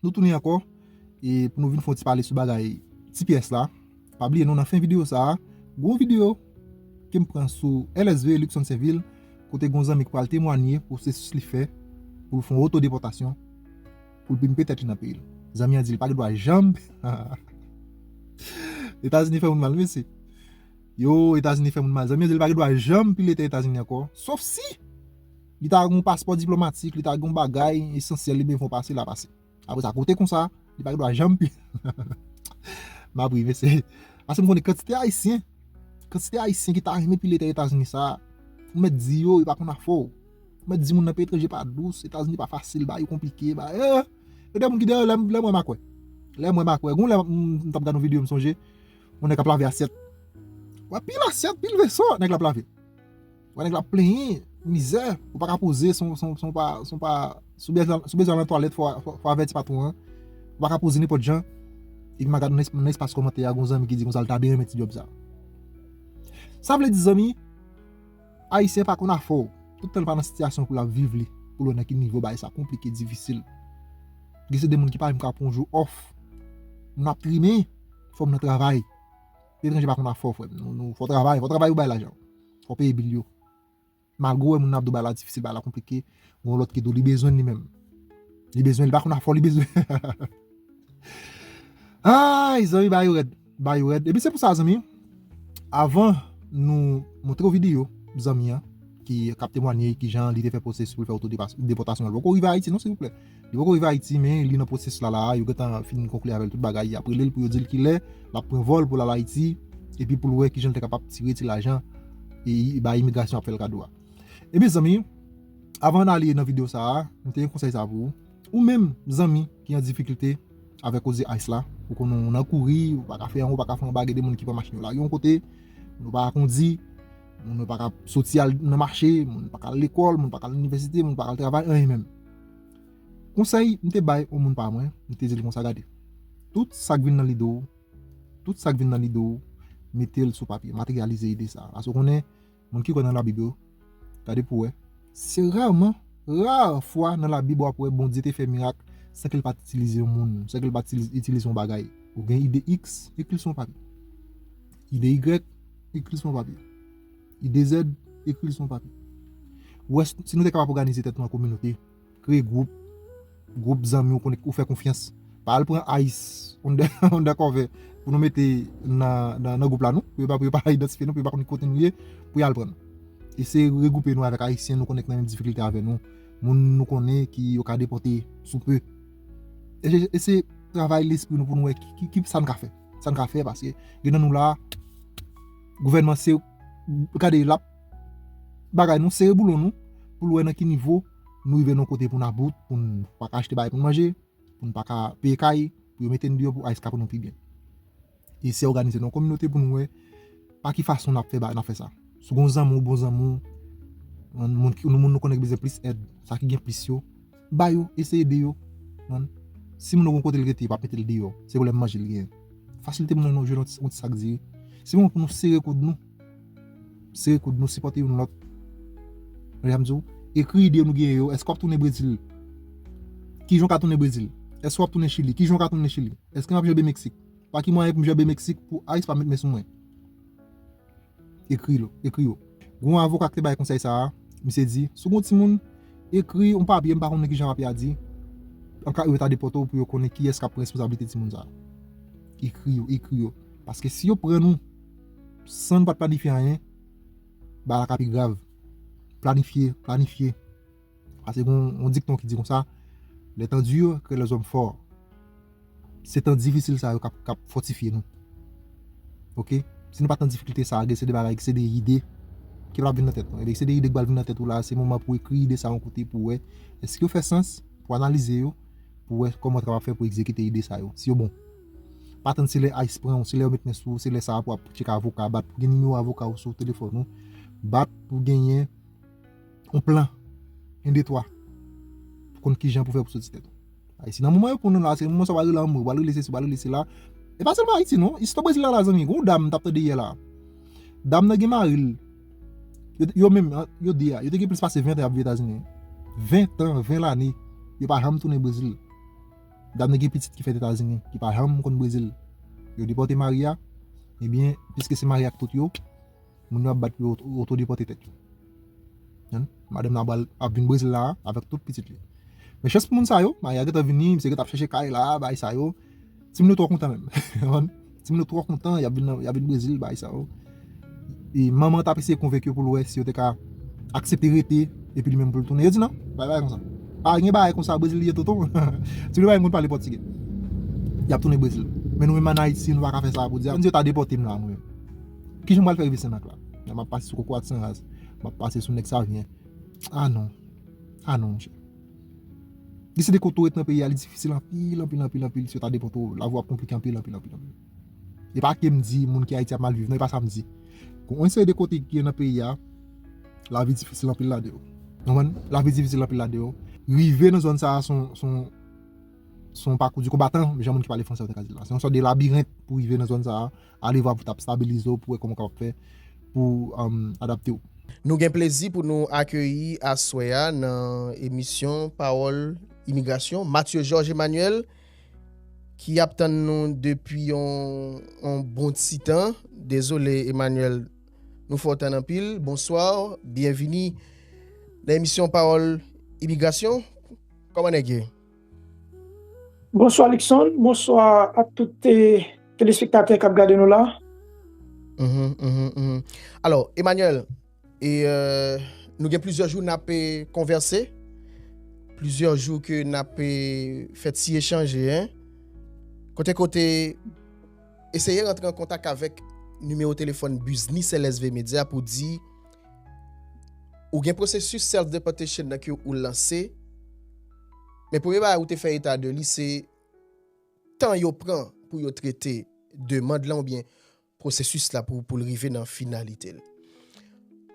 Nou tounen ankò e pou nou vin fè yon ti pale sou bagay tps la. Pa bliye non nan fen videyo sa a, gwo videyo ke m pran sou LSV Luckson Sainvil kote gwo zanmi ki pral temwanye pwosesis li fè pou l fè yon otodepòtasyon pou l pimpe tèt li nan peyi l. Zanmi an di li pa gen dwa janm Etazini fè moun mal mesye. Yo Etazini fè moun mal. Zanmi an di li pa gen dwa janm pile tè Etazini ankò sof si! Li ta gen yon paspò diplomatik, li ta gen yon bagay esansyèl li bezwen pase, l a pase. Apre sa, kote konsa, li pa gen dwa janm pi. M ap ri mesye. Paske m konnen kantite Ayisyen, kantite Ayisyen ki ta renmen pile tè Etazini sa a, ou mèt di yo, yo pa konn afè w. Ou mèt di moun nan peyi etranje pa dous, Etazini pa fasil, bagay yo konplike, ba e. Yo gen moun ki deyò, lè m wè m a kwè. Lè m wè m a kwè. Gon lè m t ap gad yon videyo m sonje, yon nèg ap lave asyèt. Wè pil asyèt, pil veso nèg la ap lave. Wè nèg la plenyen, mizè, ou pa ka poze si w bezwen al nan twalèt fò w avèti patwon an, ou pa ka poze nenpòt jan, epi m a gade nan espas kòmantè a gen yon zanmi ki di konsa li ta byen renmen ti djòb sa. Sa vle di zanmi, Ayisyen pa konn afò, tout tan li pa nan sitiyasyon pou l ap viv li, pou l wè nan ki nivo bagay sa konplike, difisil. Gen se de moun ki pa menm ka pran yon jou òf, moun ap trimen, fò moun nan travay, etranje pa konn afò frè m, fò w travay, fò w travay pou w bay lajan. Fò w peye bil yo. Malgre w wè moun nan ap di w bagay la difisil, bagay la konplike, gen yon lòt ki di w li bezwen l li menm. Li bezwen l, li pa konn afò li bezwen. Ayy zanmi bagay yo rèd, bagay yo rèd. Epi se pou sa zanmi, avan nou montre w videyo zanmi an ki ap temwanye kijan li te fè pwosesis pou l fè oto depòtasyon l poko rive Ayiti non silvouplè. Li poko rive Ayiti men li nan pwosès la la a, yo gentan fin konkli avè l tout bagay, y ap rele l pou yo di l kilè l ap pran vòl pou l al Ayiti epi pou l wè kijan l te kapab tire ti lajan bay imigrasyon ap fè l kado a. E mezanmi, avan n ale nan videyo sa a, m te gen konsèy sa a pou ou, ou menm zanmi ki an difikilte avè koze ice la, ou konnen w nan kouri, ou pa ka fè anwo, ou pa ka fè anba, gen de moun ki pran machin yo lage yon kote, moun yo pa ka kondi, moun yo pa ka soti al nan mache, moun yo pa ka al lekòl, moun yo pa ka al inivèsite, moun yo pa ka al travay, anyen menm. Konsèy m te bay on moun pa mwen, m te di l konsa, Gade, tout sa k vin nan lide w, tout sa k vin nan lide w, mete l sou papye, materyalize ide sa a. Aske w konnen, moun ki kwè nan Labib yo, gade pou w wè, se rèman, ra fwa nan Labib w ap wè Bondye te fè mirak san ke l pa t itilize yon moun, san ke l pa t itilize yon bagay. Ou gen ide iks, ekri l sou yon papye. Ide igrèk, ekri l sou yon papye. Li dezèd, ekri l sou yon papye. Wè si nou te kapab òganize tèt nou an kominote, kreye gwoup, gwoup zanmi ou konnen, ou fè konfyans. Pa al pran ayis, ondèkòve pou nou mete nan gwoup la non, pou yo pa idantifye nou, pou yo pa konn ki kote nou ye, pou y al pran nou. Eseye regwoupe nou avèk Ayisyen nou konnen ki nan menm difikilte avè nou, moun nou konnen ki yo ka depòte sou pe. Eseye travay lespri nou pou nou wè ki sa n ka fè, sa n ka fè paske gen nan nou la a. Gouvènman se gade lap bagay nou sere boulon nou poul wè nan ki nivo nou rive nan kote poun about poun pa ka achte bagay poun manje poun pa ka peye kay pou yo mete n deyò pou ice ka pou nou pi byen e se òganize nan kominote poun wè pa ki fason nap fè bagay nap fè sa sou gon zanmi ou bon zanmi ou moun nou konnen ki bezwen plis èd sa ki gen plis yo Ba yo, eseye ede yo. Si moun nan gen yon kote li rete, pa mete li deyò. Se pwoblèm manje li genyen. Fasilite moun nan nou jwenn yon ti sak diri. Se moman pou nou sere koud nou. Sere koud nou, sipòte youn lòt. Tande sa m di w? Ekri ide nou genyen yo. Èske w ap tounen Brezil? Ki jan w ka tounen Brezil? Èske w ap tounen Chili? Ki jan w ka tounen Chili? Èske m ap janbe Meksik? Pa ki mwayen pou m janbe Meksik pou ice pa met men sou mwen? Ekri l, ekri yo. Gen yon avoka ki te bay konsèy sa a, misye di, si w gen yon timoun, ekri yon papye, m pa konnen ki jan papye a di, an ka yo ta depòte w pou yo konnen kiyès k ap pran responsablite timoun sa a. Ekri yo, ekri yo. Paske si yo pran nou san nou pa t planifye anyen, bagay la ka pi grav. Planifye, planifye. Pase gen yon dikton ki di konsa, Les temps durs créent les hommes forts. Se tan difisil sa yo k ap fòtifye nou. Ok, si nou pa t nan difikilte sa a, gen se de bagay, gen se de ide ki pral vin nan tèt nou. Ebyen, gen se de ide ki pral vin nan tèt ou la a, se moman pou ekri ide sa a yon kote pou wè èske yo fè sans, pou analize yo, pou wè kòman ou ta kapab fè pou egzekite ide sa yo, si yo bon. Pa tann se lè ice pran ou, se lè yo met men sou ou, se lè sa a pou w ap tcheke avoka, bat pou gen nimewo avoka ou sou telefòn ou, bat pou genyen yon plan, yon de twa, pou konn kijan pou fè pou soti tèt ou. Ayiti nan moman yo konnen la, se moman sa wale lanmou, wale lese si, wale lese la. E pa sèlman Ayiti non, istwa Brezil la la zanmi, yon dam m tap tande yè la. Dam nan gen mari l, yo menm, yo di a, yo te gen plis pase 20 an ap viv Etazini. 20 an, 20 lane, yo pa janm tounen Brezil. Dam nan gen pitit ki fèt Etazini, ki pa janm konn Brezil. Yo depòte mari a, ebyen, piske se mari ak tout yo, moun yo ap bat pou yo oto depòte tèt yo. Madanm nan pral ap vin Brezil la avèk tout pitit li. Men chans pou moun sa yo, mari a gentan vini, misye gentan ap chèche kay la, bagay sa yo. Timoun yo twò kontan menm. Timoun yo twò kontan, y ap vin Brezil, bagay sa yo. E manman an t ap eseye konvenk yo pou l wè si yo te ka aksepte rete epi li menm pou l tounen. Yo di nan, pa gen bagay konsa. Pa gen bagay konsa, Brezil li ye tonton. Ti Lewa konn pale pòtigè. Y ap tounen Brezil. Men nou menm ann Ayiti, nou pa ka fè sa pou di a. Yo ta depòte m la mwen menm. Ki jan m pral fè rive Senmak la? Lè m ap pase sou Kokorat Sanraz, m ap pase sou Nèg Savyen. A non. A non, monchè. Li se de kote ou ret nan peyi a, li difisil anpil, anpil, anpil, anpil, si yo ta depòte ou, lavi w ap konplike anpil, anpil, anpil, anpil. E pa ke m di moun ki Ayiti ap mal viv non, e pa sa m di. Gon yon seri de kote ki gen nan peyi a, lavi difisil anpil ladan yo. Nou konprann? Lavi difisil anpil ladan yo. Rive nan zòn sa a se yon, se yon, se yon pakou di konbatan, jan moun ki pale franse yo ta ka di l la. Se yon sòt de labirent pou rive nan zòn sa a. Ale vwa pou ta stabilize w pou wè kòman w kapab fè pou w adapte w. Nou gen plezi pou nou akeyi aswè a nan emisyon Pawòl Imigrasyon, Mathieu Georges Emmanuel ki ap tann nou depi yon bon ti tan. Dezole Emmanuel, nou fè w tann anpil. Bonswa, byenvini nan emisyon Pawòl Imigrasyon. Kòman nèg ye? Bonswa Luckson, bonswa a tout telespektatè kap gade nou la. Alo, Emmanuel, nou gen plizyè jou nap konvèse, plizyè jou ke nap fè ti echanje, kote kote, eseye rantre an kontak avèk nimewo telefòn biznis LSV Media pou di, ou gen pwosesis self-deportation nan ke ou lanse, Men premye bagay ou te fè eta de li se tan yo pran pou yo trete demand lan oubyen pwosesis la pou l rive nan finalite l.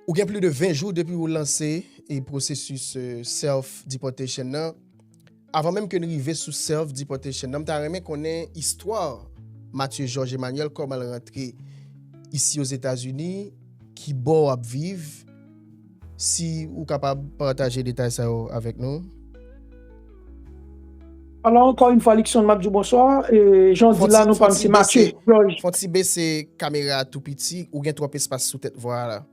Ou gen pli de 20 jou depi ou lanse e pwosesis self deportation nan. Avan menm ke n rive sou self deportation nan, m ta renmen konnen istwa Mathieu Georges Emmanuel, kòman l rantre isi Ozetazini, ki bò w ap viv, Si ou kapab pataje detay sa yo avèk nou. Alò ankò yn fwa Luckson map diw bonswa, janw di la nou pam se Mathieu Georges. Fon ti bese kamera a tou piti ou gen twòp espas sou tèt vwala.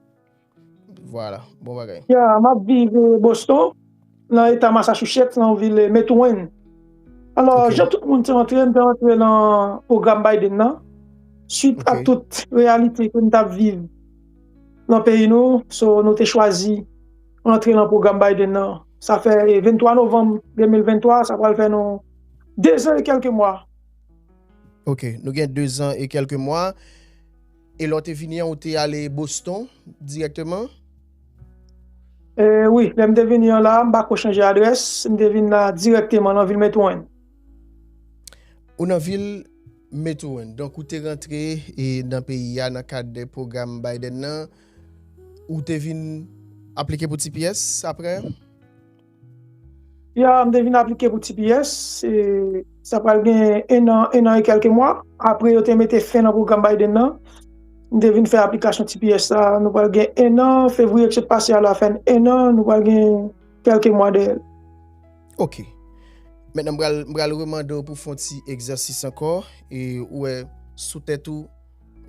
Vwala bon bagay. Ya map viv Boston. nan eta Massachusetts, nan vil Methuen. Alò, jan tout moun te antre, mwen te antre nan pwogram Biden nan, suit a tout reyalite ke nou tap viv nan peyi nou, so nou te chwazi antre nan pwogram Biden nan. Sa fè 23 novanm 2023, sa pral fè nou 2 zan e kèlke mwa. Ok, nou gen 2 zan e kèlke mwa. E lè w te vini an ou te ale Boston dirèkteman? Wi, lè m te vini an la a, m pa ko chanje adrès, m te vin la dirèkteman nan vil Methuen. Ou nan vil Methuen, donk ou te rantre nan peyi a nan kad pwogram Biden nan, ou te vin aplike pou tps apre? Ya, m te vin aplike pou tps, sa pral gen 1 an, 1 an e kèlke mwa, apre yo te mete fen nan pwogram Biden nan, m te vin fè aplikasyon tps sa, nou pral gen 1 an, fevriye ki sot pase a la fè n 1 an, nou pral gen kèlke mwa dèyè l. Ok. Mentnan m pral, m pral remande w pou w fè yon ti egzèsis ankò, e ou wè sou tèt ou,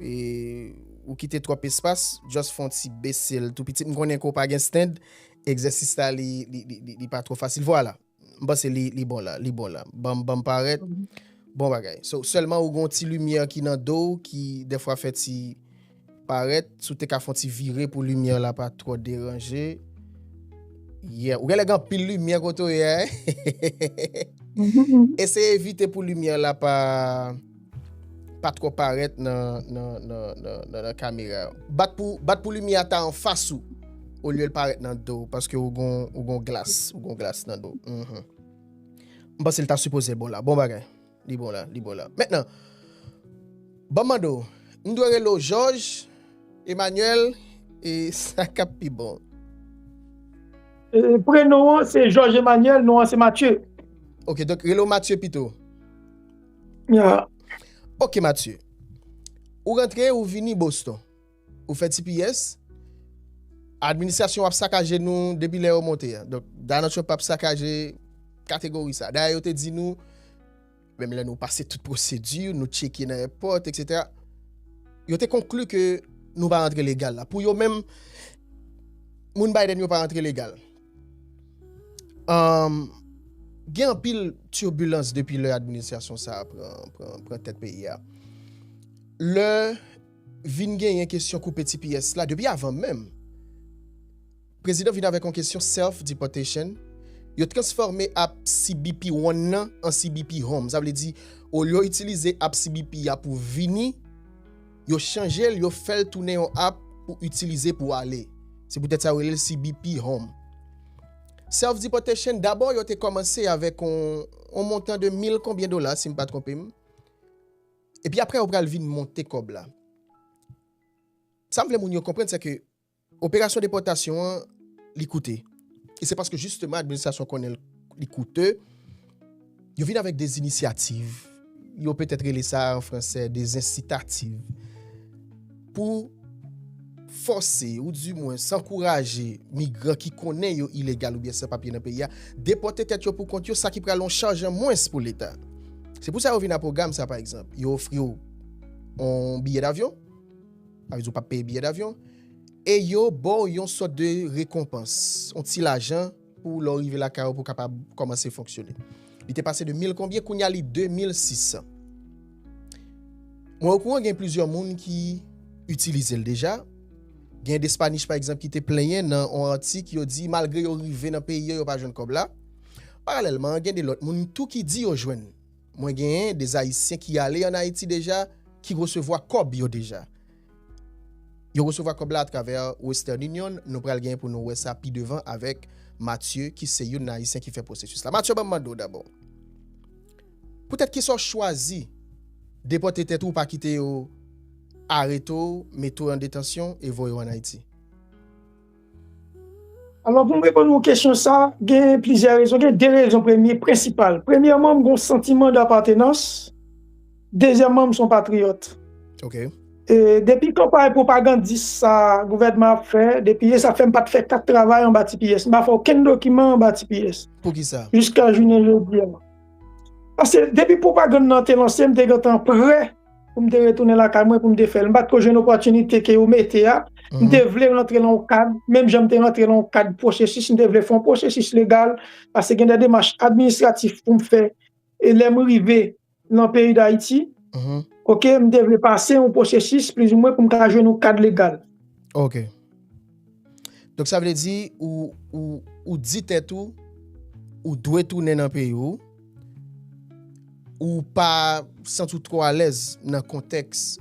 e ou kite twòp espas, just fè yon ti bese l tou piti, m konnen ke w pa gen stand, Egzèsis la li pa twò fasil. Vwala. M panse li bon la. Li bon la. Banm parèt. Bon bagay. So, sèlman ou gen yon ti limyè ki nan do ou ki dèfwa fè ti parèt. Si w te ka fè yon ti vire pou limyè la pa twò deranje. Yeah. Ou genlè gen anpil limyè kote ou ye a. Eseye evite pou limyè la pa... Pa twò parèt nan kamera. Bat pou limyè a ta anfas ou olye l parèt nan do w paske ou gon glas, ou gon glas nan do w. M panse l ta sipoze bon la. Bon bagay. Li bon la, li bon la. Mètnan, ban m mande w, m dwe rele w Jòj, Emanyèl e sa k ap pi bon? Prenon an se Jòj Emanyèl, non an se Matye. Ok, donk rele w Matye pito. Ya. Ok Mathieu. Ou rantre ou vini Boston. Ou fè tps. Administrasyon ap sakaje nou depi lè yo monte a. Donk Donald Trump ap sakaje kategori sa. Dayè yo te di nou menm lè nou pase tout pwosedi, nou tcheke nan èpòt etc. Yo te konkli ke nou pa rantre legal la. Pou yo menm moun Biden yo pa rantre legal. Gen anpil tibilans depi lè administrasyon sa a pran tèt peyi a. Lè vin genyen kesyon koupe tps la, depi avan menm, prezidan vin avèk yon kesyon self-deportation, yo transfòme app CBP One nan an CBP Home. Sa vle di, olye yo itilize app CBP a pou vini, Yo chanje l, yo fè l tounen yon app pou itilize pou ale. Se poutèt sa yo rele l CBP Home. Self Deportation, dabò yo te kòmanse avèk yon montan de mil konbyen dola, si m pa twonpe m. Epi aprè yo pral vin monte kòb la. Sa m vle moun yo konprann sèke. Operasyon depòtasyon an, li koute. E se paske jisteman administrasyon konnen li koute, yo vin avèk de zinisyativ, yo petèt rele sa an franse de zensitativ, pou fòse ou di mwen sankouraje migran ki konnen yo ilegal oubyen san papye nan peyi a, depòte tèt yo poukont yo, sa ki pral yon chaj an mwens pou leta. Se pou sa yo vin a pwogam sa pa egzanp. Yo ofri w yon biyè davyon. Sa vle di ou pap peye biyè davyon e yo ba w yon sòt de rekonpans, yon ti lajan pou lè w rive lakay ou pou w kapab kòmanse fonksyone. Li te pase de mil konbyen, kounye a li de mil sisan. Mwen okouran gen plizyè moun ki itilize l deja. Gen Despanich pa egzanp ki te plenyen nan yon atik yo di malgre yo rive nan peyi yo, yo pa jwenn kòb la. Paralèlman, gen de lòt moun tou ki di yo jwenn. Mwen genyen des ayisyen ki ale an ayiti deja ki resevwa kòb yo deja. Yo resevwa kòb la a travè western union nou pral genyen pou nou wè sa pi devan avèk Mathieu ki se youn nan ayisyen ki fè pwosesis la. Mathieu banm mande w dabò pou tèt kisa w chwazi depòte tèt ou ou pa kite yo arete w mete w an detansyon e voye w an ayiti? Alò pou m reponn yon kesyon sa, gen plizyè rezon, gen de rezon premye, prensipal. Premyèman, m gen yon santiman dapatenans, dezyèman, m se yon patriyòt. Ok. E depi kanpay pwopagandis sa gouvènman ap fè, depi e sa fè m pa t fè kat travay anba tps, m pa fè okenn dokiman anba tps. Poukisa? Jiska jounen jodi a. Pase depi pwopagann nan te lanse, m te gentan prè. pou m te retounen lakay mwen pou m te fè l. M pa t ko jwenn opòtinite ke yo mete a. M te vle rantre nan yon kad, menm jan m te rantre nan yon kad pwosesis, m te vle fè yon pwosesis legal, paske gen de demach administratif pou m fè lè m rive nan peyi Dayiti. Ok, m te vle pase yon pwosesis plizoumwen pou m ka jwenn yon kad legal. Ok. Donk sa vle di ou di tèt ou, ou dwe tounen nan peyi ou, ou pa santi ou twò alèz nan kontèks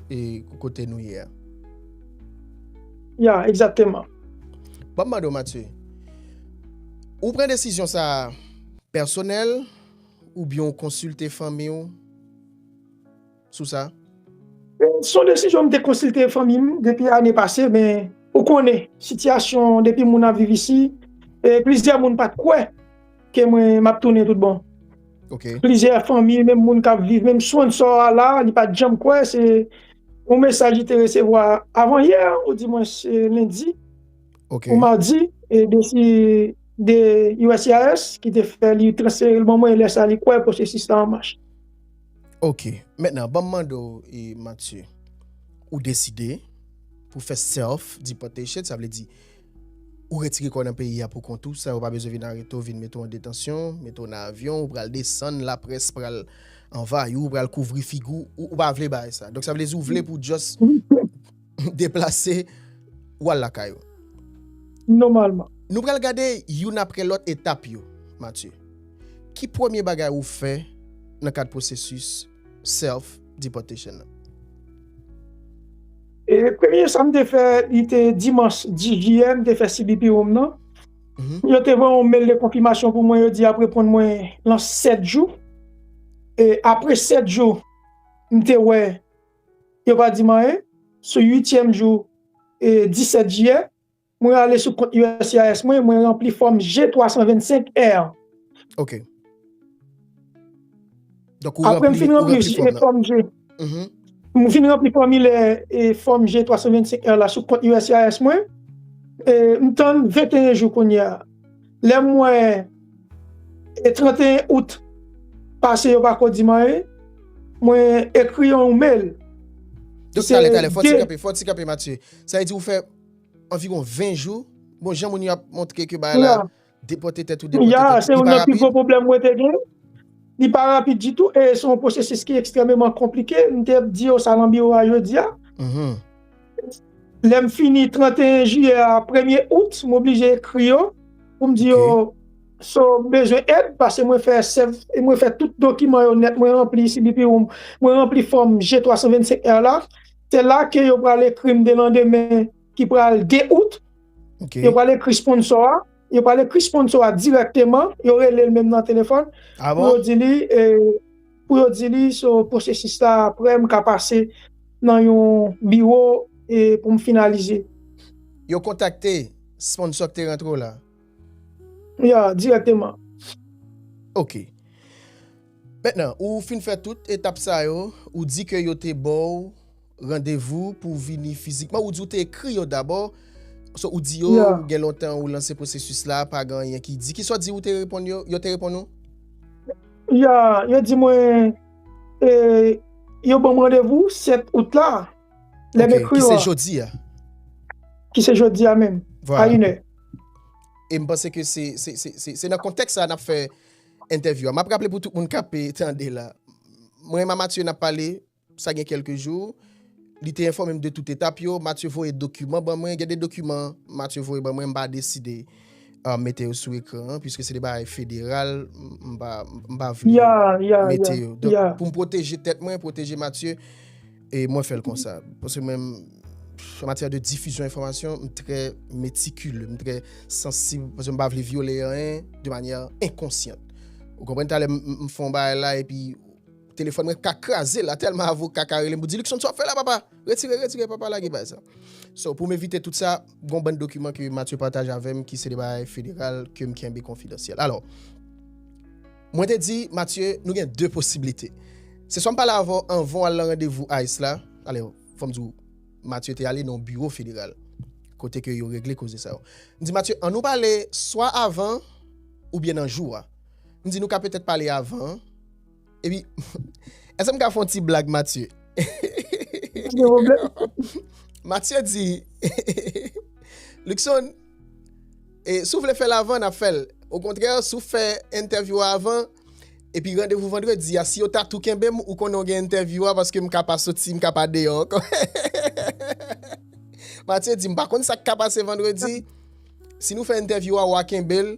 kote nou ye a. Ya, egzakteman. Ban m mande w Matye, ou pran desizyon sa a pèsonèl oubyen ou konsilte fanmi w? sou sa? Se yon desizyon m te konsilte fanmi m depi ane pase, men ou konnen sitiyasyon depi moun ap viv isi, e plizyè moun pa t kwè ke mwen m ap tounen tout bon. Plizyè fanmi, menm moun k ap viv, menm sponnsò a la, li pa t janm kwè, se yon mesaj li te resevwa avan yè, odimwens lendi ou madi, de uscis ki te fè li transfere l ban mwen, lè sa li kwè pwosesis la an mach. Ok, mètnan banm mande w e Matye, ou deside pou fè self deportation, sa vle di ou retire kò w nan peyi a pou kont ou san yo pa bezwen vin arete w, vin mete w an detansyon, mete w nan avyon, ou pral desann, laprès pral anvayi w, pral kouvri figi w, ou pa vle bagay sa. Donk sa vle di ou vle pou just. deplase ou al lakay ou. Nòmalman. Nou pral gade youn apre lòt etap yo. Matye, Ki premye bagay ou fè nan kad pwosesis self deportation nan? E premye sa m te fè, li te dimanch 10 jiyè, m te fè CBP ou m nan. Yo te voye yon mail de konfimasyon pou mwen, yo di y ap reponn mwen lan 7 jou. E apre 7 jou, m te wè Yo pa di m anyen. Sou uityèm jou 17 jiyè, mwen ale sou kont uscis mwen, mwen ranpli fòm G325 R. Ok. Donk ou ranpli fòm nan. Apre m fin ranpli fòm G. Mwen fin ranpli fòmilè fòm G325 R la sou kont uscis mwen. M tann 21 jou kounye a. Lè m wè e 31 out pase yo pako di m anyen mwen ekri yon email Doc talè talè fò ti kanpe fò ti kanpe Mathieu sa vle di ou fè anviron 20 jou bon jan moun yo ap montre ke bagay la depòte tèt ou depòte tèt ou li pa rapid? Ya se youn nan pi gwo pwoblèm mwen te gen li pa rapid ditou e se yon pwosesis ki ekstrèmeman konplike m te di yo sa nan biwo a jodi a. Lè m fini 31 jiyè a, premye out, m oblije ekri yo pou m di yo so m bezwen èd pase mwen fè sèv e mwen fè tout dokiman yo nèt mwen ranpli si bipi ou m mwen ranpli fòm je 325 èr la se la ke yo pral ekri m delandemen ki pral 2 out yo pral ekri sponsò a yo pral ekri sponsò a dirèkteman yo rele l menm nan telefòn pou yo di li e Pou yo di li so pwosesis la apre m ka pase nan yon biwo pou m finalize. Yo kontakte sponsò k te rantre w la? Ya, dirèkteman. Ok. Mentnan, ou fin fè tout etap sa yo, ou di ke yo te ba w. Randevou pou w vini fizikman. Ou di ou te ekri yo dabò. So ou di yo ou gen lontan ou lanse pwosesis la, pa gen anyen ki di. Ki sa w di ou te reponn yo, yo te reponn ou? Ya, yo di mwen, e, yo ban m randevou 7 out la, lè m ekri yo a. Ki se jodi a. Ki se jodi a menm, a inè. E m panse ke se, se, se, se, se nan kontèks sa a n ap fè entèvyou a. M ap raple pou tout moun k ape tande la. Mwen e Mama Tiye n ap pale Sa gen kèlke jou, li te enfòme m de tout etap yo. Matye voye dokiman ban mwen. Gen de dokiman Matye voye ban mwen, m pa deside mete yo sou ekran an, piske se de bagay federal, m pa vle mete yo. Donk, pou m pwoteje tèt mwen, pwoteje Matye, mwen fè l konsa. Paske mwen, an matyè de difizyon enfòmasyon, m trè metikile, m trè sansib, paske m pa vle vyole anyen de manyè enkonsyant. Ou konprann? Talè m fè yon bagay la epi. Telefòn mwen ka kraze la tèlman avoka ka relem pou di Luckson sa w ap fè la papa, retire retire papa lage bay sa. So pou m evite tout sa, gon bann dokiman ke Mathieu pataje avè m ki se de bagay federal ke m kenbe konfidansyèl. Alò, mwen te di Mathieu nou gen 2 posiblite, se swa m pale avè w anvan w al nan randevou ice la, alè fò m di w Mathieu te ale nan yon biwo federal kote ke yo regle koze sa yo. M di Mathieu an nou pale swa avan oubyen nan jou a. M di nou ka petèt pale avan. Epi, eske m ka fè yon ti blag Matye? Matye di, Luckson, si w vle fè l avan, n ap fè l. Okontrè, si w fè entèvyou a avan, epi randevou vandredi a, si yo ta tou kenbe m, ou konnen w gen entèvyou a, paske m ka pa soti, m ka pa deyò ankò. Matye di, m pa konn sa k ka pase vandredi, si nou fè entèvyou a, w a kenbe l,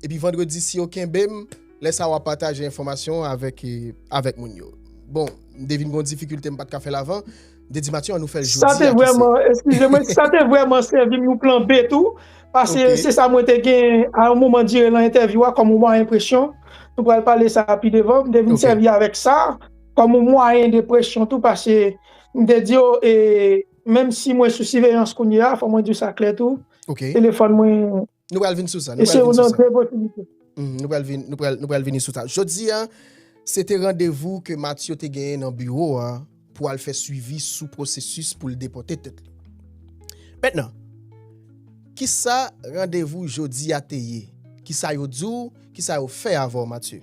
epi vandredi si yo kenbe m, Lè sa wap pataje enfòmasyon avèk avèk moun yo. Bon, m te vin gon difikilte m pat ka fèl avan, m te di Mathieu an nou fèl jodi a kise. Sa te vrèman, eskize mwen, sa te vrèman sèvim yon plan B tou, pase se sa mwen te gen a yon moman dire lan entèvyou a kòm yon mwayen presyon, nou pral pale sa pi devan, m te vin sèvi avèk sa kòm yon mwayen de presyon tou pase m te di yo e menm si mwen sou siveyans kounye a, fò mwen di w sa klè tou, telefòn mwen Nou pral vin sou sa. Se yon nan de posibilite. Nou pral vin, nou pral vini sou sa. Jodi a, se te randevou ke Matthew te genyen nan biwo a pou al fè swivi sou pwosesis pou l depote tèt li. Mentnan, ki sa randevou jodi a te ye? Ki sa yo di w? Ki sa yo fè avè w Matthew?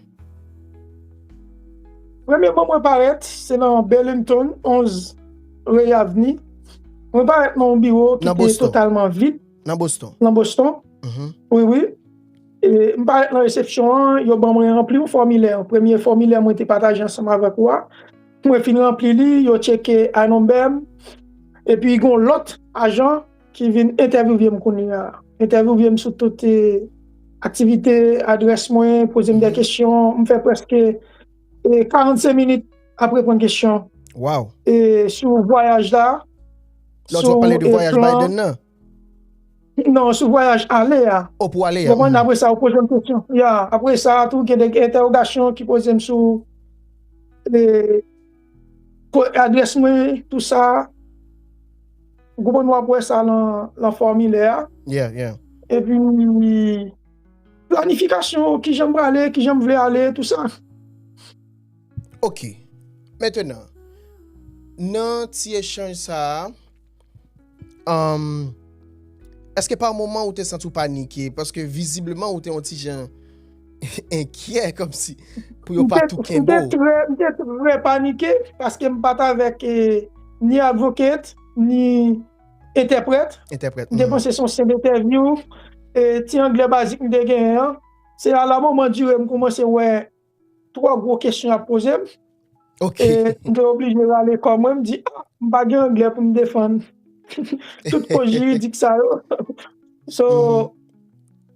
Premyeman mwen parèt, se nan Burlington, 11 Ray Avenue. Mwen parèt nan yon biwo ki te totalman vid. Nan Boston? Nan Boston, wi wi. M parèt nan resepsyon an, yo ban mwen ranpli yon fòmilè. Premye fòmilè mwen te pataje ansanm avèk ou a. Mwen fin ranpli li, yo tcheke INumber m. Epi gen yon lòt ajan ki vin entèvyouve m kounye a. Entèvyouve m sou tout aktivite, adrès mwen, poze m de kesyon. M fè prèske. e 45 minit ap reponn kesyon e sou vwayaj la lòt fwa pale de vwayaj Biden nan nan sou vwayaj ale a konprann apre sa ou poze m kesyon ya apre sa tou gen de entèwogasyon ki poze m sou e ko adrès mwen tou sa ou konprann wap wè sa lan fòmilè a epi Planifikasyon, kijan m prale, kijan m vle ale, tou sa. Ok. Mentenan, nan ti echanj sa a, èske pa moman ou te santi w panike? Paske vizibleman ou te yon ti jan enkyè, kòmsi pou yo pa tou kenbe w. M te trè panike, paske m pa t avèk ni Advocate, ni. Entèprèt. Entèprèt. M te panse se yon senp entèvyou, ti anglè bazik m te genyen an. Se a la moman dire m koumanse wè twò gwo kesyon y ap poze m. Ok. E m te oblije rale kò mwen, m di, a, m pa gen anglè pou m defann tout koz jiridik sa yo. So.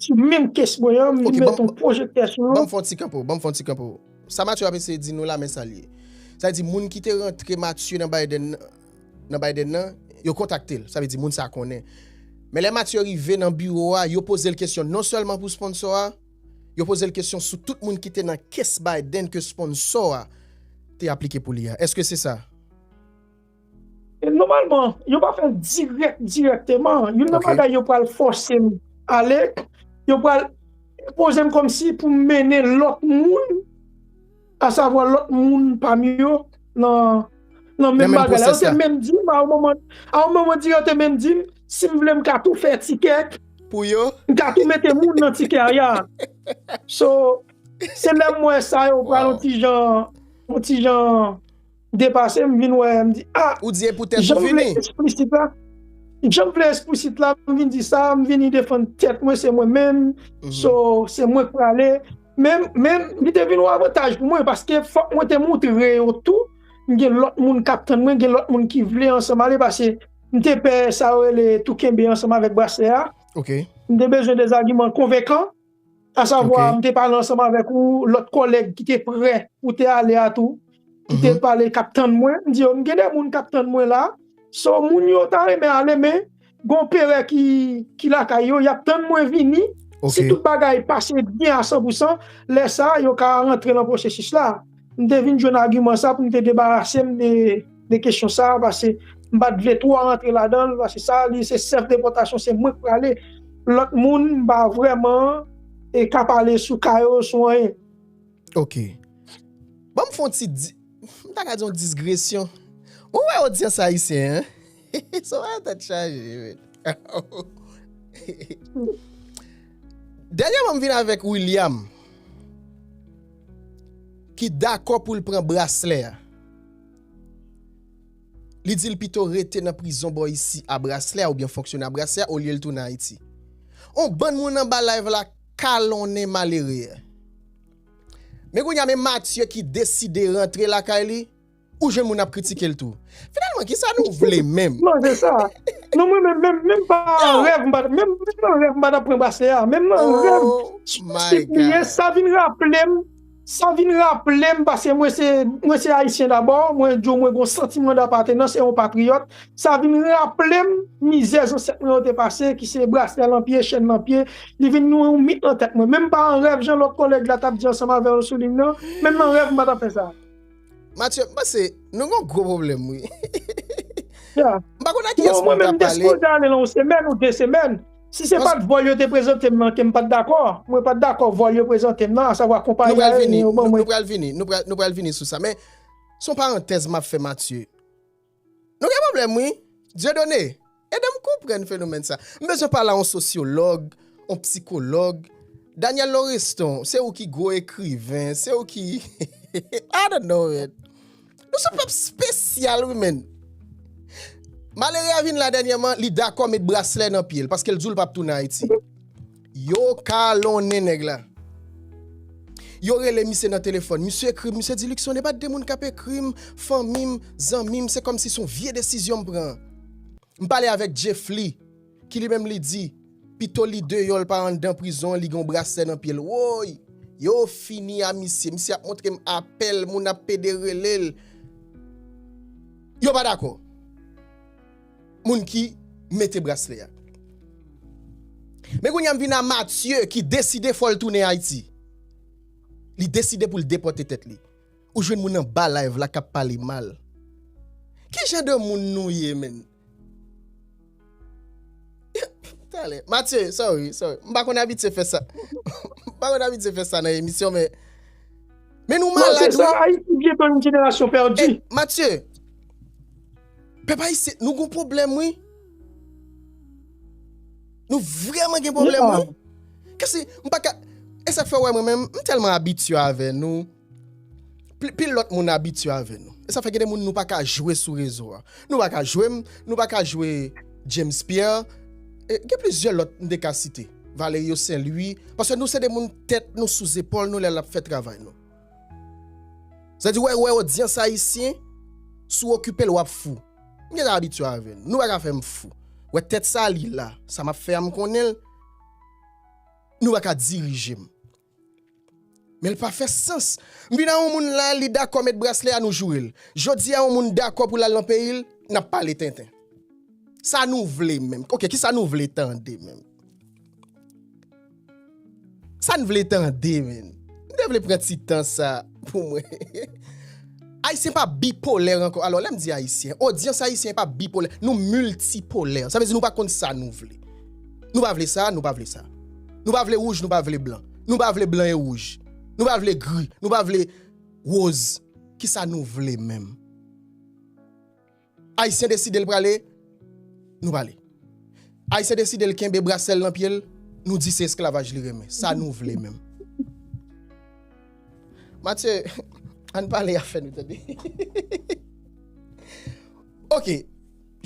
Sou menm kes mwen an, m vin met yon pwojektè sou yo. Ok, banm fon ti kanpo, banm fon ti kanpo. Sa Mathieu ap eseye di nou la men sal ye. Sa vle di moun ki te rantre Mathieu nan Biden nan Biden nan, yo kontakte l. Sa vle di moun sa konnen. Men lè Mathieu rive nan biwo a, yo poze l kesyon non sèlman pou sponsò a, yo poze l kesyon sou tout moun ki te nan kes Biden ke sponsò a te aplike pou li a. Eske se sa? E nòmalman, yo pa fè l dirèk dirèkteman. Youn nan bagay yo pral fòse m ale, yo pral enpoze m kòmsi pou m mennen lòt moun, asavwa lòt moun pami yo nan menm bagay la. Yo te menm di m, a yon moman, a yon moman di yo te menm di m, si m vle m ka tou fè tikè, m ka tou mete moun nan tikè a ya. So, se lè m wè sa yo pral yon ti jan, yon ti jan. depase m vin wè m di ah jan m vle esplisit la jan m vle esplisit la m vin di sa m vini defann tèt mwen se mwen menm so se mwen k prale men men li te vin yon avantaj pou mwen paske fòk mwen te moutre yo tou m gen lòt moun kap tann mwen gen lòt moun ki vle ansanm ale pase m te pè sa yo rele tou kenbe ansanm avèk braslè a m te bezwen de zagiman konvenkan. Asavwa, m te pale ansanm avèk yon lòt kòlèg ki te prè pou te ale a tou, ki te pale, k ap tann mwen. M di yo, m gen de moun k ap tann mwen la. So, moun yo ta renmen ale, men gen yon pere ki lakay yo, y ap tann mwen vini. Si tout bagay pase byen a sanpousan, lè sa a, yo ka rantre nan pwosesis la. M te vin jwenn agiman sa pou m te debarase m de kesyon sa pase m pa t vle twò rantre ladan l pase sa li se sèf depòtasyon se mwen k prale lòt moun m pa vrèman ka pale sou ka yo sou anyen. Ok. Banm fon ti di, m ta ka di yon disgresyon. Ou wè odyans ayisyen an? Soraya tèt chaje wi. Dènyèman m vin avèk William ki dakò pou l pran braslè a. Li di l pito rete nan prizon bò isi a braslè a oubyen fonksyone a braslè a olye l tounen Ayiti. On bann moun anba live la kalonnen malere a. Men kounye a men Mathieu ki deside rantre lakay li. Ou jwenn moun ap kritike l tou. Finalman, ki sa nou vle menm? Non, se sa. Non, mwen menm, menm, menm pa an rèv m pa ta, menm, menm an rèv m pa ta pran brasle a. Menm nan rèv, sou prensip li ye, sa vin raple m, sa vin raple m, paske mwen se, mwen se Ayisyen dabò, mwen di w mwen gen yon santiman dapatenans e yon patriyòt, sa vin raple m mizè zansèt mwen yo te pase, ki se brasle nan pye, chèn nan pye, li vin yon, yon mit nan tèt mwen. Menm pa an rèv, jan lòt kòlèg la t ap di ansanm avè w, Souline, nan, menm nan rèv m pa ta fè sa. Matye, m panse nou gen yon gwo pwoblèm wi. M pa konn a kiyès pou m ta pale. Mwen menm m te sipoze ale lan yon semèn ou de semèn. Si se pa t vòl yo te prezante m lan ke m pa t dakò, mwen pa t dakò vòl yo prezante m lan, asavwa konpayi ayeryen yo ban mwen. Nou pral vini, nou pral vini sou sa. Men, se yon parantèz m ap fè Matye. Nou gen pwoblèm wi. Dieudonne, ede m konprann fenomèn sa. M bezwen pale a yon sosyològ, yon psikològ. Daniel Loreston, se ou ki gwo ekriven, se ou ki I don't know man. Nou son pèp spesyal wi man. Malere a vin la dènyèman, li dakò met braslè nan pye l, paske l di w l p ap tounen Ayiti. Yo kalonnen nèg la. Yo rele misye nan telefòn. Misye ekri m, misye di, Luckson, e pa de moun k ap ekri m, fanmi m, zanmi m, se kòmsi s on vye desizyon m pran. M pale avèk Jeffly, ki li menm li di, pito li deyò l pa anndan prizon an, li gen yon braslè nan pye l. Woy! Yo fini a misye. Misye ap montre m apèl, moun ap pede rele l. Yo pa dakò. moun ki mete braslè a. Men kounye a m vin a Mathieu ki deside fò l tounen Ayiti. Li deside pou l depòte tèt li. Ou jwenn moun anba live la k ap pale mal. Ki jan de moun nou ye menn? Talè. Mathieu, sorry, sorry. M pa konn abitye fè sa. M pa konn abitye fè sa nan emisyon men. Men nou malad wi. Non se sa, Ayiti byenton yon jenerasyon pèdi. Mathieu. Pep ayisyen nou gon problem wi. Nou vreman gen problem wi. Kese m pa ka. E sak fe wè mwen menm m telman abitye ave nou. Pil lot moun abitye ave nou. E sa fe gen de moun nou pa ka jwe sou rezo a. Nou pa ka jwe m, nou pa ka jwe James Pierre. E gen plizye lot m te ka site. Valerio Saint Louis. Pase nou se de moun tet nou sou zepol nou le lap fe travay nou. Sa di wè wè odyans ayisyen sou okipe l wap fou m gentan abitye avè l nou pa ka fè m fou wè tèt sa li la sa map fè a m konnen l nou pa ka dirije m men l pa fè sans m vin a yon moun la li dakò met braslè a nou joure l jodi a yon moun dakò pou l al nan peyi l nap pale tenten sa nou vle menm ok kisa nou vle tande menm. Sa n vle tande menn. M te vle pran ti tan sa pou mwen. Ayisyen pa bipolè ankò. Alò, lè m di Ayisyen, odyans Ayisyen pa bipolè. Nou miltipolè. Sa vle di nou pa konn sa nou vle. Nou pa vle sa, nou pa vle sa. Nou pa vle wouj, nou pa vle blan. Nou pa vle blan e wouj. Nou pa vle gri. Nou pa vle woz. Kisa nou vle menm? Ayisyen deside l prale, nou pale. Ayisyen deside l kenbe brasè l nan pye l, nou di se esklavaj li renmen. Sa nou vle menm? Matye, an n pale afè nou tande. Ok,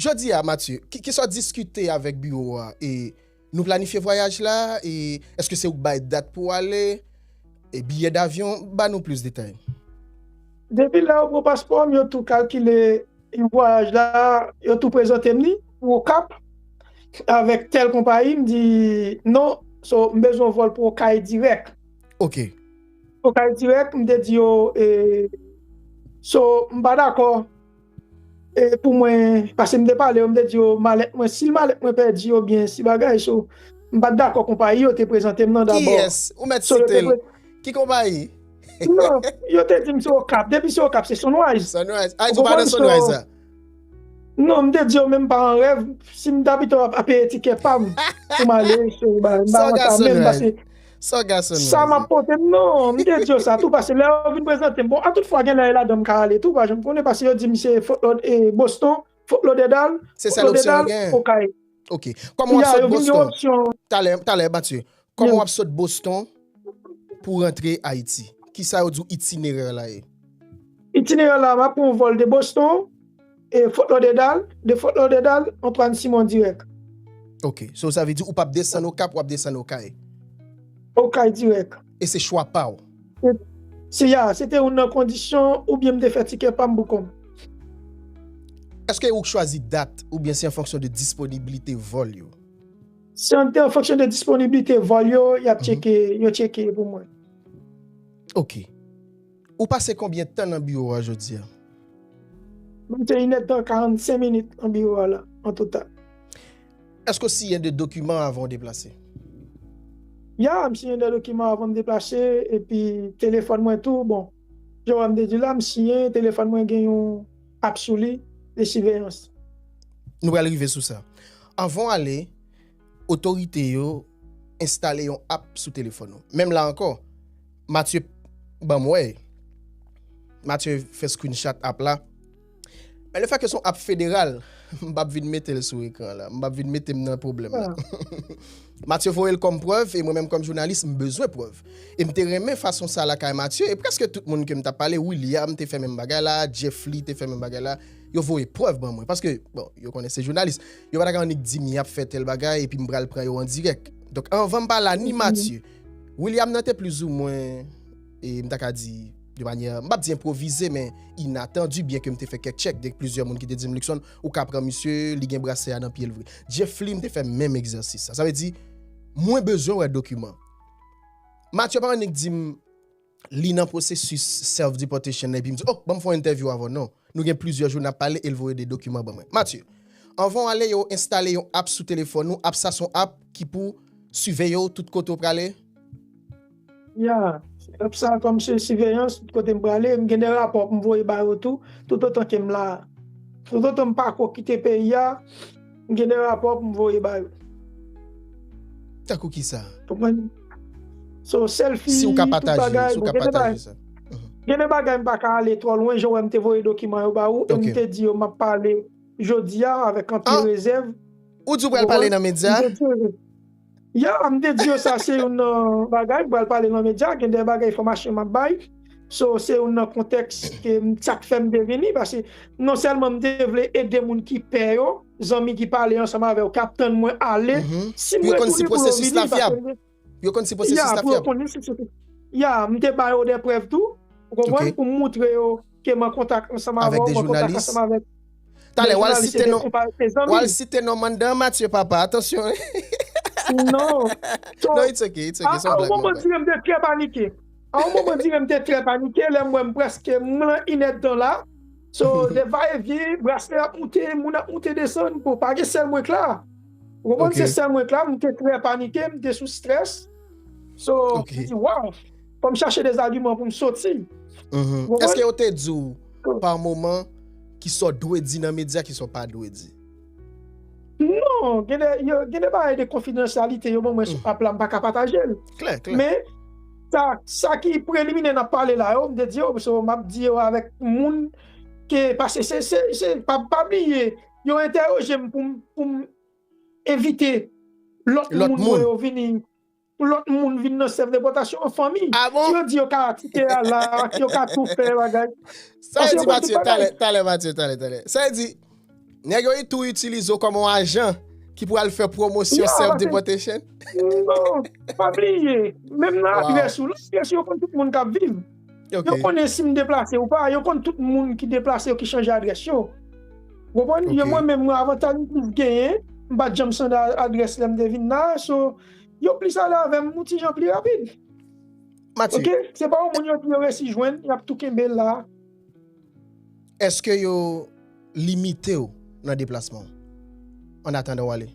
jodi a Matye, kisa w diskite avèk biwo a e Nou planifye vwayaj la e eske se ou k bay dat pou w ale e biyè davyon? Ba nou plis detay. Depi lè yo pran paspò m, yo tou kalkile vwayaj la, yo tou prezante m li pou Okap avèk tèl konpayi, m di non, so m bezwen vòl pou Okay dirèk. Ok. Okay dirèk, m te di yo e so m pa dakò. E pou mwen, pase m te pale yo, m te di yo malèt mwen, si malèt mwen pèdi yo byen si bagay so, m pa t dakò konpayi yo te prezante m nan dabò. Kiyès? Ou mèt site l. Ki konpayi? Non, yo te di m se Okap. Depi se Okap, se Sunrise. Sunrise. Ayiti pa nan Sunrise la? Non, m te di yo menm pa an rèv, si m ta pito ap peye tikè pa m pou m ale, m pa wè sa menm pase. Sargason Sa map pote m non, m te di yo sa tou pase lè yo vin prezante m, bon a tout fwa genlè e ladan m ka ale tou pa janm konnen pase yo di m se Fort Lod e Boston, Fort Lauderdale, Se sèl opsyon yo genyen? Okay. Ok, kòman wap Ya, sot yo vin gen Boston? opsyon. Talè, talè Mathieu, kòman wap sot Boston pou rantre Ayiti? Kisa yo di w itinerè la ye? Itinerè la map pran yon vòl de Boston, E Fort Lauderdale, de Fort Lauderdale, Antoine Simon dirèk. Ok, so sa vle di ou pap desann Okap, wap desann Okay? Okay dirèk. E se chwa pa w? Se ya, se te youn nan kondisyon oubyen m te fè tikè pa m pou kont m. Eske ou k chwazi dat oubyen se an fonksyon de disponiblite vòl yo? Se an te an fonksyon de disponiblite vòl yo, y ap tcheke, yo tcheke pou mwen. Ok. Ou pase konbyen tan nan biwo a jodi a? Mwen mete inèdtan, 45 minit nan biwo a la an total. Èske w siyen de dokiman avan w deplase? Ya, m siyen de dokiman avan m deplase epi telefòn mwen tou, bon, jan w wè m te di la, m siyen, telefòn mwen gen yon app sou li de siveyans. Nou pral rive sou sa. Anvan w ale, otorite yo enstale yon app sou telefòn ou. Menm la ankò, Mathieu banm wè, Mathieu fè screenshot app la, men le fè ke son app federal, m pap vin mete l sou ekran la, m pap vin mete m nan pwoblèm la. Mathieu voye l kòm prèv e mwen menm kòm jounalis m bezwen prèv. E m te renmen fason sa lakay Mathieu e prèske tout moun ke m t ap pale, William te fè menm bagay la, Jeffly te fè menm bagay la, yo voye prèv ban mwen paske bon, yo konnen se jounalis. Yo pa ta ka annik di m y ap fè tèl bagay epi m pral pran yo an dirèk. Donk anvan m pale a ni Matye, William nan te plizoumwen, e m ta ka di de manyè, m p ap di enpwovize men inatandi byen ke m te fè kèk tchèk de plizyè moun ki te di m Luckson ou ka pran misye, li gen brasè a nan pye l vre. Djefflin te fè menm egzèsis sa. Sa vle di mwen bezwen wè dokiman. Matye pa annik di m. li nan pwosesis self deportation epi m di ok ban m fè yon entèvyou avè w non nou gen plizyè jou n ap pale e l voye 2 dokiman ban mwen Mathieu anvan w ale yo enstale yon app sou telefòn ou app sa s on app ki pou siveye w tout kote w prale Ya app sa a kòm se siveyans tout kote m prale m gen de rapò pou m voye ba yo tou toutotan ke m la toutotan m pako kite peyi a. M gen de rapò pou m voye ba yo. Tankou ki sa? Konprann? So, selfi, tout bagay. Si w ka pataje, si w ka pataje sa. Gen de bagay m pa ka ale twò lwen, jan w wè m te voye dokiman yo ba ou, e m te di yo m ap pale jodi a avèk anpil rezèv. Ou di w pral pale nan medya? Ya m te di yo sa se youn nan bagay m pral pale lan medya gen de bagay enfòmasyon m ap bay so se youn nan kontèks ke m sa k fè m te vini pase non sèlman m te vle ede moun ki pè yo zanmi ki pale ansanm avè w k ap tann mwen ale si m retounen pou yo vini pase m gen Pou yo konn si pwosesis la fyab Ya m te ba yo de prèv tou ou konprann pou m moutre yo. Ke mwen kontak ansanm avèw, mwen kontak ansanm avèk de jounalis e de konpa e zanmi. Talè wal site non Mandan Mathieu papa, atansyon hein. Non. So, a yon moman dire m te trè panike. A yon moman dire m te trè panike lè m wè m prèske m lan inèdtan la. So, de va e vyen, braselè ap moute, moun ap moute desann, bon pa gen sèl mwen k la. Ou konprann se sèl mwen k la, m te trè panike, m te sou strès. So, m di waw. Fò m chache de zagiman pou m soti. Eske yo te di ou pa moman ki sa w dwe di nan medya ki sa w pa dwe di? Non, gen de bagay de konfidansyalite yo ban mwen sou app la m pa ka pataje l. Klè, klè. Men, sa ki preliminè n ap pale la yo, m te di yo, so m ap di yo avèk moun ke pase se, se, se, pa bliye yo entèwoje m pou m evite lòt moun yo vini. Pou lòt moun vin nan sèf depòtasyon an fanmi. Ah bon? Si yo di yo ka atike a la, yo ka tou fè bagay. Sa yo di Mathieu, talè, talè Mathieu, talè, talè. Sa yo di, nèg yo tou itilize w kòm yon ajan ki pou al fè pwomosyon sèf depòtasyon? Non, pa bliye, menm nan adrès ou la, adrès ou yo konn tout moun k ap viv. Yo konnen si m deplase ou pa, yo konn tout moun ki deplase yo, ki chanje adrès yo. Ou konprann? Mwen menm, avantaj m toujou genyen, m pa t janm chanje adrès lè m te vin la a, so. yo plis ale avèm yon ti jan pli rapid Mathieu ok se pa yon moun yo di yo resi jwenn yap tou kenbe la. Eske yo limitew nan deplasman w an atandan w ale?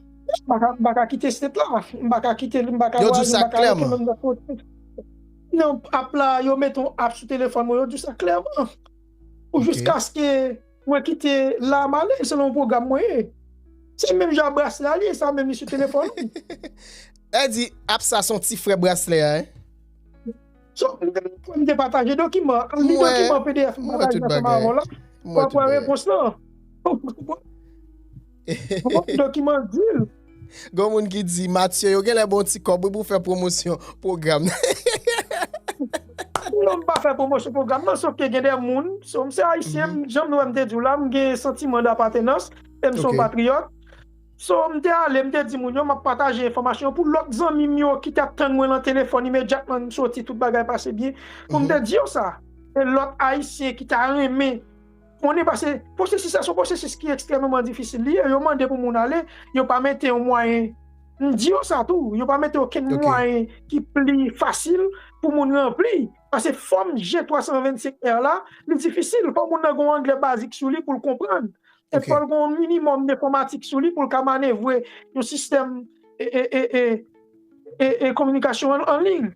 M pa ka kite state la m pa ka kite li m pa ka vwayaje m pa ka rete menm nan kote nan app la yo mete yon app sou telefòn mwen yo diw sa klèman ou jis kaske. Mwen kite la male selon program mwen ye. Se menm jan braslè a li ye sa menm li sou telefòn ou. Èd di app sa son ti frè braslè a hein. So mwen menm mwen te pataje dokiman an. Al li dokiman pdf m pataje ansanm avè w la. Wap wè repons lan. Bon dokiman l di l. Gon moun ki di Mathieu yo genlè bon ti kòb wi pou fè pwomosyon pwogram nan. Non m pa fè pwomosyon pwogram nan sof ke gen de moun, so m se ayisyen m jan m wè m te di w la m gen santiman dapatenans e m se yon patriyòt. So m te ale m te di moun yo m ap pataje enfòmasyon pou lòt zanmi m yo ki t ap tann mwen lan telefòn imedyatman m soti tout bagay pase byen pou m te di yo sa. E lòt ayisyen ki ta renmen. On e pase, pwosesis la se yon pwosesis ki ekstrèmeman difisil li ye, yo mande pou moun ale, yo pa mete yon mwayen, m di yo sa tou, yo pa mete okenn mwayen ki pli fasil pou moun ranpli, pase fòm G325R la, li difisil, fò moun nan gen yon anglè bazik sou li pou l konprann, e fò l gen yon minimòm enfòmatik sou li pou l ka manevre yon sistèm e kominikasyon an liy.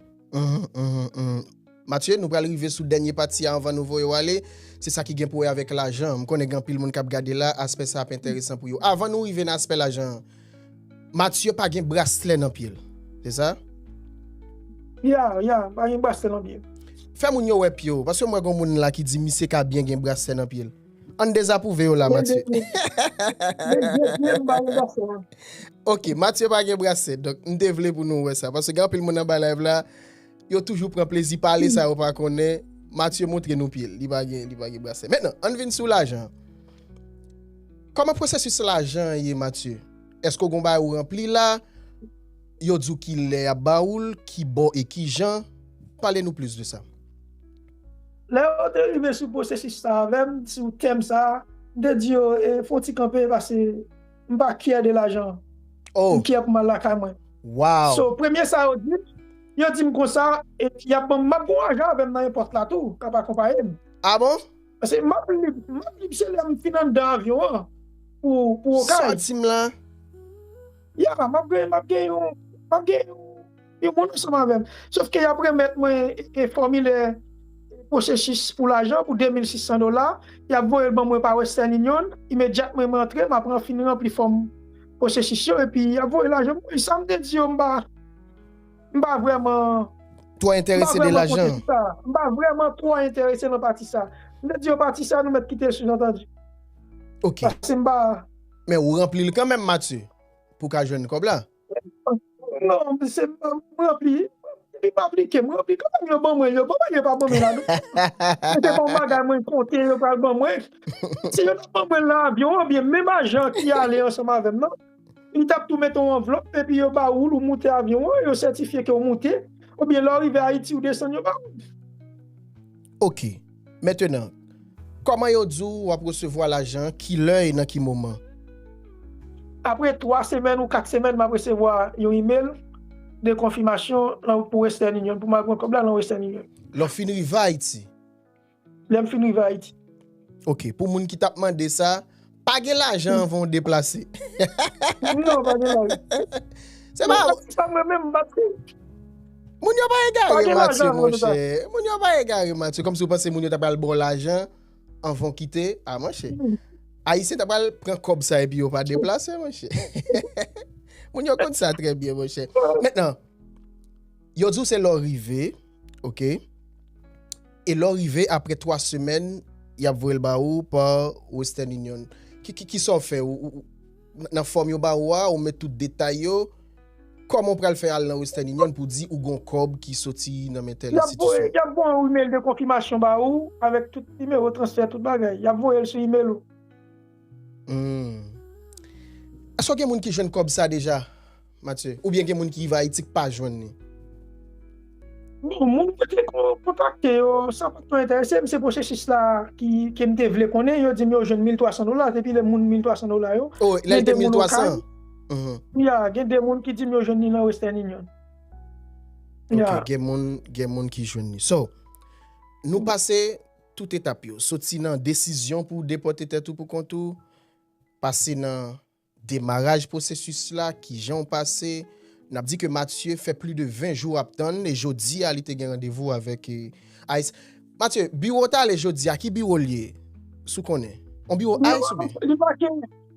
Matye, nou pral rive sou dènye pati a anvan nou voye w ale. Se sa ki gen pou wè avèk lajan. M konnen gen anpil moun k ap gade la, aspè sa ap enteresan pou yo. Avan nou rive nan aspè lajan an, Matye pa gen braslè nan pye l, se sa? Ya, ya, m pa gen braslè nan pye m. Fè moun yo wè pye w, paske m wè gen yon moun la ki di misye ka byen gen braslè nan pye l. An n dezapwouve yo la, Matye. Men de pye, m pa gen braslè nan pye m. Ok, Matye pa gen braslè. Donk, m te vle pou nou wè sa. Paske gen anpil moun anba layv la. Yo toujou pran plezi pale sa yo pa konnen. Matye montre nou pye l, li pa gen brase. Mètnan, ann vin sou lajan. Kòman pwosesis lajan ye Matye? Eske w gen yon bagay ou ranpli la? Yo di w ki lè y ap ba ou l, ki bò e ki jan? Pale nou plis de sa. Lè yo te rive sou pwosesis sa avè m, sou tèm sa, m te di yo fè yon ti kanpe pase. M pa kyè de lajan. Oh. M kyè pou m al lakay mwen. Wow. So premye sa yo di, yo di m konsa e y ap ban m, m ap gen yon ajan avè m nan èpòt la tou k ap akonpaye m. Ah bon? Paske m ap lib, m ap lib se lè m fin anndan avyon an pou Okay. Sòti m lan. Yeah, m ap gen, m ap gen yon, m ap gen yon. Yo moun ansanm avèm. Sof ke yap remèt mwen e fòmilè pwosesis pou lajan pou 2600 dola, yap voyel ban mwen pa Western Union, imedyatman mwen antre map ran fin ranpli fòm pwosesis yo epi yap voye lajan pou mwen. Sam te di yo mpa mpa vrèman Twò entèrese de lajan an. Mpa vrèman twò entèrese nan pati sa. M te di yo pati sa nou mèt kitel sou zantandi. Ok. Paske mpa. Men ou ranplil kanmenm Mathieu pou ka jwenn kòb la. Non, se m ranpli, li pa aplike, m ranpli kòman yo ban mwen yo, kòman yo pa ban mwen la non. Se te pa yon bagay mwen konte yo pral ban mwen. Si yo ta ban mwen nan avyon an, byen menm ajan ki ale ansanm avè m nan, li t ap tou mete yon anvlòp epi yo ba ou l ou moute avyon an, yo sètifye ke ou moute, oubyen lè w rive Ayiti ou desann yo ba ou l. Ok. Mentenan, kòman yo di w w ap resevwa lajan, ki lè e nan ki moman? Apre twa semèn ou kat semèn m ap resevwa yon imel de konfimasyon lan pou Western Union pou m al pran kòb la lan Western Union. Lè w fin rive Ayiti? Lè m fin rive Ayiti. Ok, pou moun ki t ap mande sa, Pa gen lajan anvan w deplase. Moun yo pa gen lajan. Se pa. Moun sa mwen menm Matye. Moun yo pa egare Matye mon chè. Moun yo pa egare Matye. Kòm si w panse moun yo ta pral ba w lajan anvan w kite. A mon chè. Ayisyen ta pral pran kòb sa epi yo pa deplase mon chè. Moun yo konn sa trè byen mon chè. Mèt nan. Yo di w se lè w rive. Ok e lè w rive apre 3 semèn y ap voye l ba ou pa western union kisa w fè nan fòm yo ba ou a ou met tout detay yo kòman w pral fè al nan western union pou w di ou gon kòb ki soti nan men tèl enstitisyon. Y ap voye yon email de konfimasyon ba ou avèk tout nimewo transfè tout bagay y ap voye l sou email ou. Humm Eske gen moun ki jwenn kob sa deja Matye ou byen gen moun ki rive ayiti ki pa jwenn li. Bon moun mwen te kontakte yo sa pat twò entèresem se pwosesis la kem te vle konnen yo dim yo jwenn 1300 dola depi lè moun 1300 dola yo gen de moun okay ya gen de moun ki dim yo jwenn li nan western union ya gen moun ki jwenn li so nou pase Tout etap yo, soti nan desizyon pou w depòte tèt ou pou kont ou, pase nan demaraj pwosesis la, kijan w pase, n ap di ke Mathieu fè pli de 20 jou ap tann e jodi a li te gen randevou avèk ice. Mathieu, biwo w t ale jodi a, ki biwo l ye? Si w konnen. On biwo ice oubyen? Li pa gen.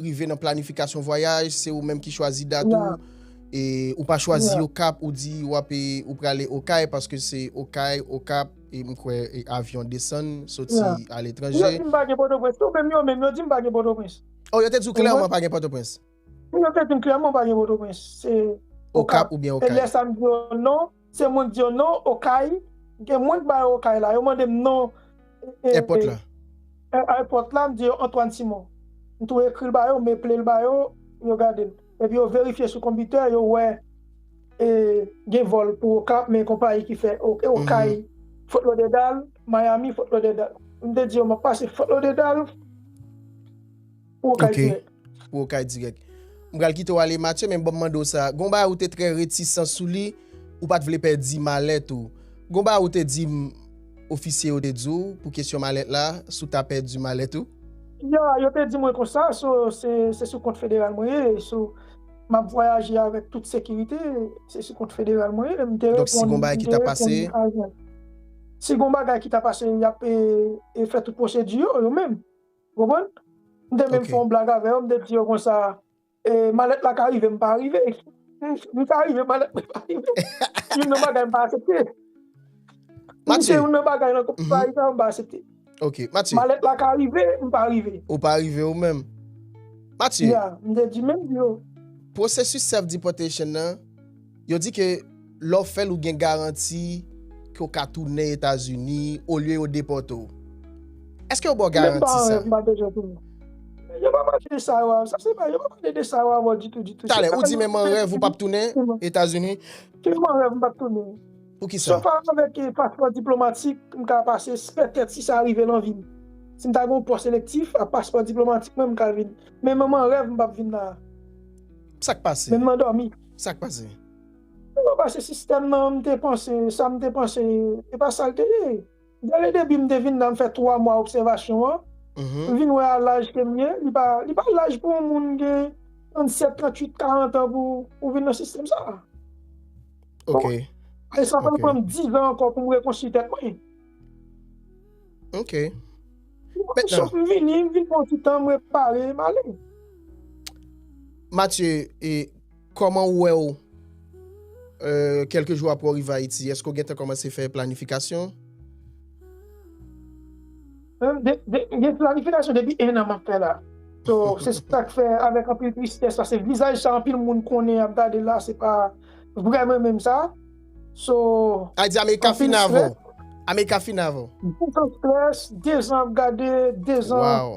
rive nan planifikasyon vwayaj, se ou menm ki chwazi dat ou, e ou pa chwazi okap, ou di ou ap e, ou prale okay, paske se okay, okap, e mwen kwe e avyon desann, soti a letranje. Yo di m pa gen potoprens tou, menm yo menm, yo di m pa gen potoprens. Oh, yo te di ou klèman pa gen potoprens? Yo te di m klèman pa gen potoprens, se okap, e lè sa m di yo non. Se moun di yo non okay gen moun bay okay la yo mandem non airport la airport la mdi yo Antoine Simon mtou ekril ba yo meplel ba yo yo gadel epi yo verifye sou konbitè yo wè gen vol pou okap men konpayi ki fè okay Fort Lauderdale Miami Fort Lauderdale mte di yo map pase Fort Lauderdale. Pou okay direct. Pou okay direct. M pral kite w ale Mathieu men banm mande w sa. Gon bagay ou te trè retisan sou li, ou pat vle pèdi malèt ou. Gon bagay ou te di m ofisye yo te di w pou kesyon malèt la, si w ta pèdi malèt ou? Ya, yo te di mwen konsa, so se sou kont federal mwen ye, so m ap vwayaje avèk tout sekirite, se sou kont federal mwen ye. M te reponn, m te reponn. Donk si gon bagay ki ta pase? Si gon bagay ki ta pase, y ap fè tout pwosedi yo, yo menm. Ou konprann? M te menm fè yon blag avè yo, m te di yo konsa, e malèt la ka rive m pa rive. M ka rive malèt mwen pa rive. Se youn nan bagay m pa asepte. Matye. Se youn nan bagay nan koup sa Ayisyen an m pa asepte. Ok, Matye. Malèt la ka rive, m pa rive. Ou pa rive ou menm. Matye. Ya, m te di menm di yo. Pwosesis self deportation nan. Yo di ke lè w fè l ou gen garanti ke w ka tounen Etazini olye yo depòte w. Èske yo ba w garanti sa? Menm pa wè, m pa bezwen tounen. Yo pa pale de sa yo avè m. Se pa, yo pa pale de sa yo avè w ditou, ditou. Talè, ou di menm an rèv ou pap tounen Etazini? Se menm an rèv m pap tounen. Poukisa? Sof avèk paspò diplomatik, m ka pase, pètèt si sa rive nan vi m. Si m ta gen yon pòs elektif, ak paspò diplomatik mwen, m ka vin. Men menm an rèv m pap vin la a. Sa k pase? Menm nan dòmi. Sak pase? Yo pase sistèm nan m te panse sa m te panse e pa sa l te ye. Dèlè depi m te vin la m fè 3 mwa obsèvasyon an m vin wè a laj ke m ye li pa li pa laj pou yon moun gen 37, 38, 40 an pou ou vin nan sistèm sa. Ok. E sa pral pran m 10 an ankò pou m rekonstwi tèt mwen. Ok. Mwen sot m vini, m vin pran ti tan mwen pale, m ale. Matye, e koman ou wè ou kelke jou apre ou rive Ayiti? Eske ou gen tan komanse fè planifikasyon? Gen planifikasyon depi 1 an m ap fè la. So, se sa k fè avèk anpil tristès, pase vizaj sa anpil moun konnen y ap gade la se pa vrè mwen menm sa. So. Ayiti America fini avèw. America fini avèw. Dezan stress, dezan ap gade, dezan. Waw.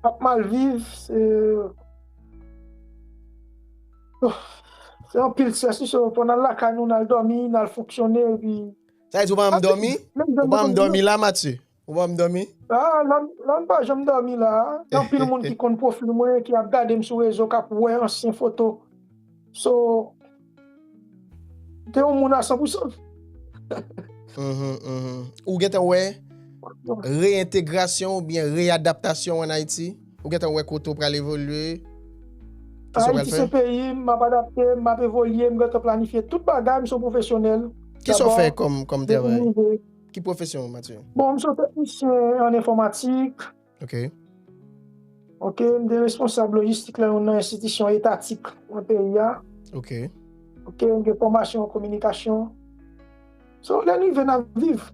Ap mal viv, se. Oh. Se anpil stress wi so fò nal lakay nou nal domi, nal fonksyone epi. Sa vle di ou pa janm domi? Ou pa janm domi la Mathieu? Ou banm domi? Aa Lann pa janm domi la a, gen anpil moun ki konn profil mwen ki ap gadem sou rezo kap wè ansyen foto so gen yon moun a san pou san. Ou gentan wè reentegrasyon oubyen readaptasyon an Ayiti? Ou gentan wè kote ou pral evolye? Ayiti se peyi m, m ap adapte, m ap evolye, m gentan planifye tout bagay, m se yon pwofesyonèl. Kisa w fè kòm travay? Ki pwofesyon ou Mathieu? Bon, m se yon teknisyen an enfòmatik. Ok. Ok, m te responsab lojistik lan yon nan enstitisyon etatik nan peyi a. Ok. Ok, m gen fòmasyon an kominikasyon. So, lè n rive n ap viv.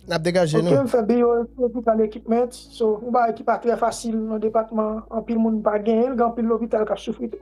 N ap degaje nou. Ok, m fè BO Electrical Equipment. So, yon bagay ki pa trè fasil nan depatman an, anpil moun pa genyen l, gen anpil lopital k ap soufri tou.